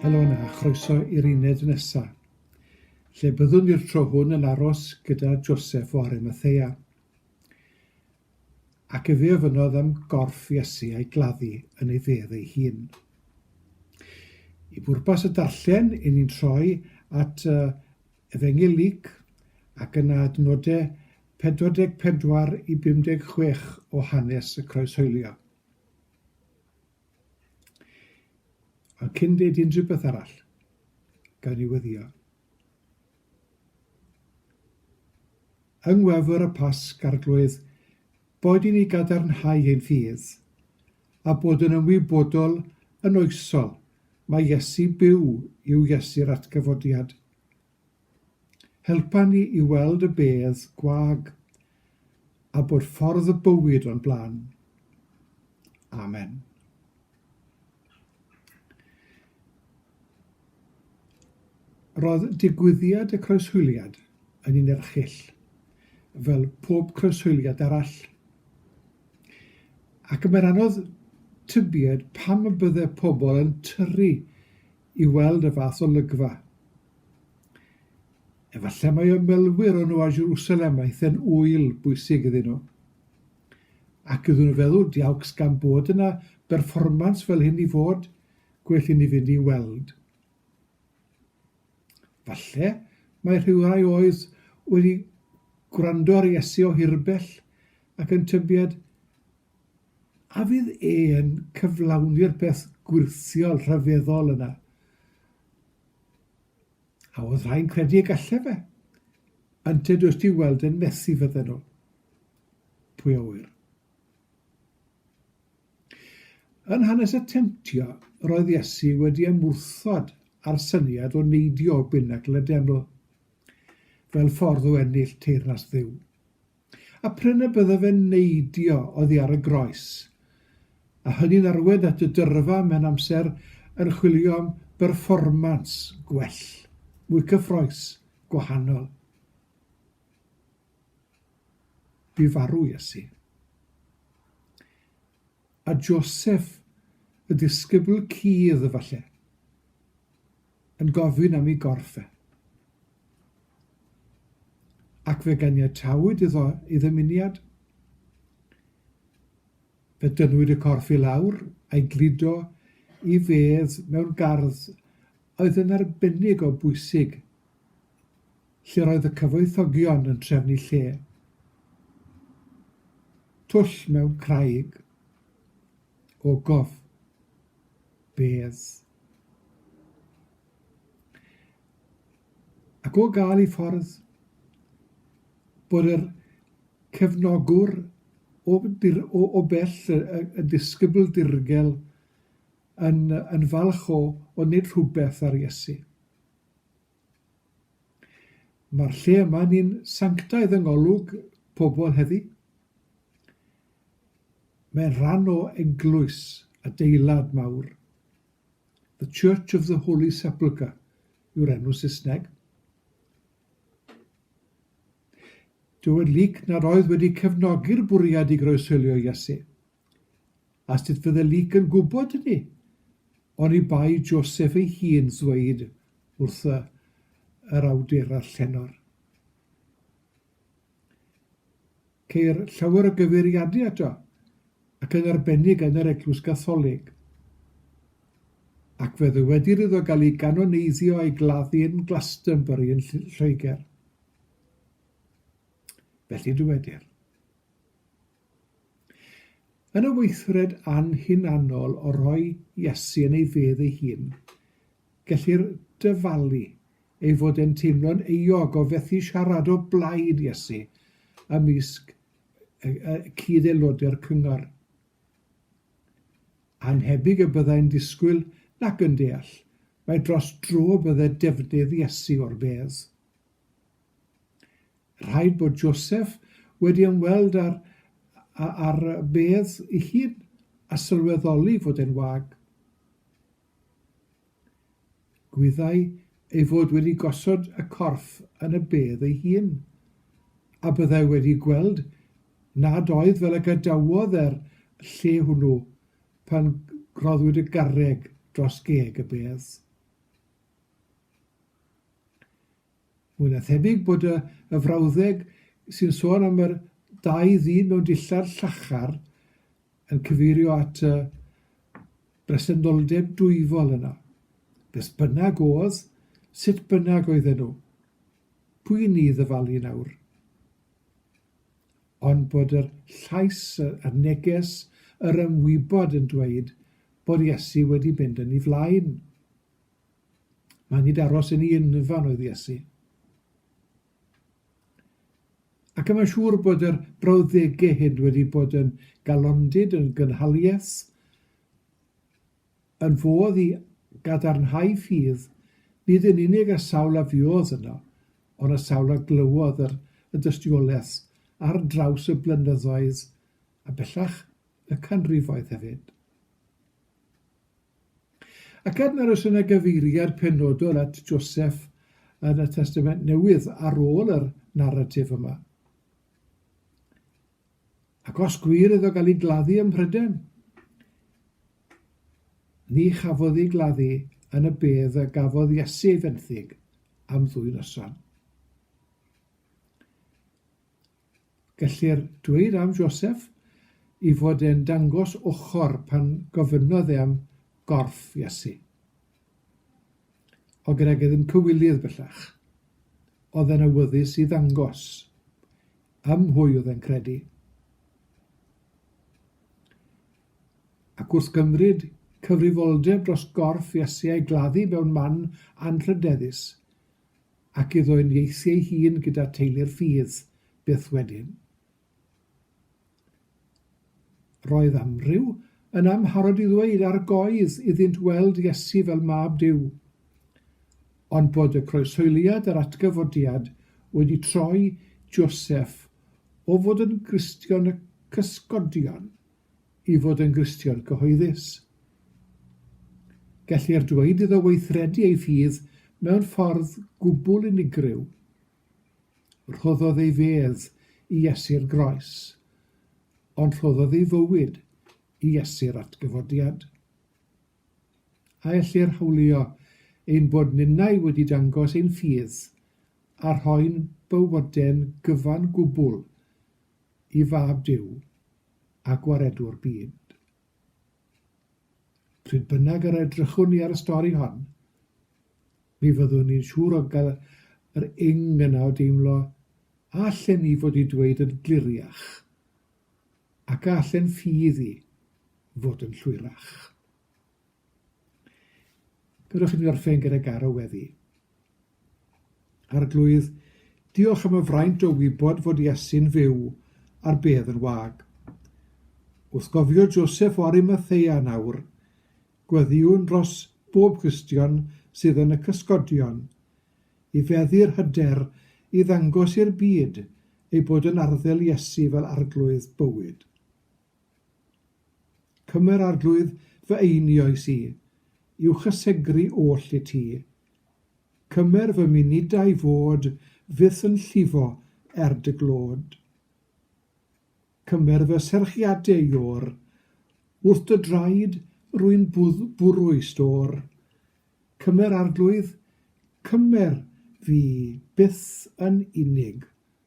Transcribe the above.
Helo yna a chroeso i'r uned nesaf, lle byddwn i'r tro hwn yn aros gyda Joseph o Arimathea. Ac efe ofynnodd am gorff Iesu a'i gladdu yn ei fedd ei hun. I bwrpas y darllen, i ni'n troi at uh, Efengylig ac yna adnodau 44 i 56 o hanes y Croeshoelio. Ond cyn deud unrhyw beth arall, gawn ni weddio. Yng ngwefr y Pasg, Arglwydd, boed i ni gadarnhau ein ffydd, a bod yn ymwybodol yn oesol mae Iesu byw yw Iesu'r atgyfodiad. Helpa ni i weld y bedd gwag a bod ffordd y bywyd o'n blaen. Amen. Roedd digwyddiad y croeshoeliad yn un erchyll, fel pob croeshoeliad arall. Ac y mae'n anodd tybied pam y bydde pobl yn tyrru i weld y fath olygfa. Efallai mae ymwelwyr â nhw a Jerusalem aeth yn ŵyl bwysig iddyn nhw. Ac iddyn nhw feddwl, diawcs gan bod yna berfformans fel hyn i fod, gwell i ni fynd i weld. Falle mae rhywrai oedd wedi gwrando ar Iesu o hirbell ac yn tybied A fydd e'n cyflawni'r peth gwyrthiol rhyfeddol yna? A oedd rhai'n credu y gallai fe? Ynte does di weld yn methu fydden nhw. Pwy a ŵyr? Yn hanes y temtio, roedd Iesu wedi ymwrthod â'r syniad o neidio o binacl y deml, fel ffordd o ennill teyrnas Dduw. A prin y byddo fe'n neidio oddi ar y groes, a hynny'n arwain at y dyrfa mewn amser yn chwilio am berfformans gwell, mwy cyffrous, gwahanol. Bu farw Iesu. A Joseff, y disgybl cudd, efallai. yn gofyn am ei gorff e. Ac fe ganiatawyd iddo ei ddymuniad. Fe dynnwyd y corff i lawr a'i gludo i fedd mewn gardd oedd yn arbennig o bwysig, lle roedd y cyfoethogion yn trefnu lle. Twll mewn craig, ogof bedd. Ac o gael ei ffordd bod yr cefnogwr o, dir, o, o bell y, y, y disgybl dirgel yn, yn falch o, o wneud rhywbeth ar Iesu. Mae'r lle yma ni'n sanctaidd yng ngolwg pobl heddi. Mae'n rhan o eglwys, adeilad mawr. The Church of the Holy Sepulchre yw'r enw Saesneg. Dywed Luke nad oedd wedi cefnogi'r bwriad i groeshoelio Iesu. A sut fydde Luc yn gwybod hynny? Oni bai Joseph ei hun ddweud wrth y, yr awdurau llenor. Ceir llawer o gyfeiriadau ato, ac yn arbennig yn yr Eglwys Gatholig. Ac fe ddywedir iddo gael ei ganoneiddio a'i gladdu yn Glastonbury yn Lloegr. Felly dywedir. Yn y weithred anhunanol o roi Iesu yn ei fedd ei hun, gellir dyfalu ei fod e'n teimlo'n euog o fethu siarad o blaid Iesu ymysg y cyd-aelodau'r cyngor. Anhebyg y byddai'n disgwyl nac yn deall mai dros dro bydde defnydd Iesu o'r fedd. Rhaid bod Joseph wedi ymweld â'r â'r bedd ei hun a sylweddoli fod e'n wag. Gwyddai ei fod wedi gosod y corff yn y bedd ei hun, a byddai wedi gweld nad oedd fel y gadawodd e'r lle hwnnw pan roddwyd y garreg dros geg y bedd. Mwy na thebyg bod y y frawddeg sy'n sôn am yr dau ddyn mewn dillad llachar yn cyfeirio at y bresenoldeb dwyfol yna. Beth bynnag oedd, sut bynnag oedden nhw, pwy i ni ddyfalu nawr? Ond bod yr llais, yr neges, yr ymwybod yn dweud bod Iesu wedi mynd yn ei flaen. Mae nid aros yn ei unfan oedd Iesu. Ac yma'n siŵr bod yr brawddegau hyn wedi bod yn galondid, yn gynhalius, yn fodd i gadarnhau ffydd, nid yn unig a sawl a fuodd yno, ond a sawl a glywodd yr, y dystiolaeth ar draws y blynyddoedd a bellach y canrifoedd hefyd. Ac er nad oes yna gyfeiriad penodol at Joseph yn y Testament Newydd ar ôl yr naratif yma. Ac os gwir iddo gael ei gladdu ym Mhryden, ni chafodd ei gladdu yn y bedd y gafodd Iesu ei fenthyg am ddwy noson. Gellir dweud am Joseph ei fod e'n dangos ochr pan gofynnodd e am gorff Iesu. O gregydd yn cywilydd bellach, oedd e'n awyddus i ddangos ym mhwy oedd e'n credu. Ac wrth gymryd cyfrifoldeb dros gorff Iesu a'i gladdu mewn man anrhydeddus, Ac iddo uniaethu ei hun gyda teulu'r ffydd, byth wedyn. Roedd amryw yn amharod i ddweud ar goedd iddynt weld Iesu fel Mab Duw. Ond bod y croeshoeliad a'r atgyfodiad wedi troi Joseph o fod yn Gristion y Cysgodion i fod yn Gristion cyhoeddus. Gellir dweud iddo weithredu ei ffydd mewn ffordd gwbl unigryw. Rhoddodd ei fedd i Iesu'r Groes, ond rhoddodd ei fywyd i Iesu'r Atgyfodiad. A ellir hawlio ein bod ninnau wedi dangos ein ffydd a rhoi'n bywoden gyfan gwbl i Fab Duw? a gwaredu'r byd. Pryd bynnag yr edrychwn ni ar y stori hon, mi fyddwn ni'n siŵr o gael yr ing yna o deimlo a allen ni fod i dweud yn gliriach ac a allen ffydd i fod yn llwyrach. Gadewch i mi orffen gyda garo weddi. Arglwydd, diolch am y fraint o wybod fod Iesu'n fyw ar bedd yn wag. Wrth gofio Joseph o Arimathea nawr, gweddiwn dros bob Cristion sydd yn y cysgodion, i feddu'r hyder i ddangos i'r byd ei bod yn arddel Iesu fel Arglwydd bywyd. Cymer arglwydd fy einioes i, i'w chysegru oll i ti. Cymer fy munudau fod fyth yn llifo er dy glod. Cymer fy serchiadau i or, wrth dy draed rwy'n bwrw i stor. Cymer arglwydd, cymer fi byth yn unig.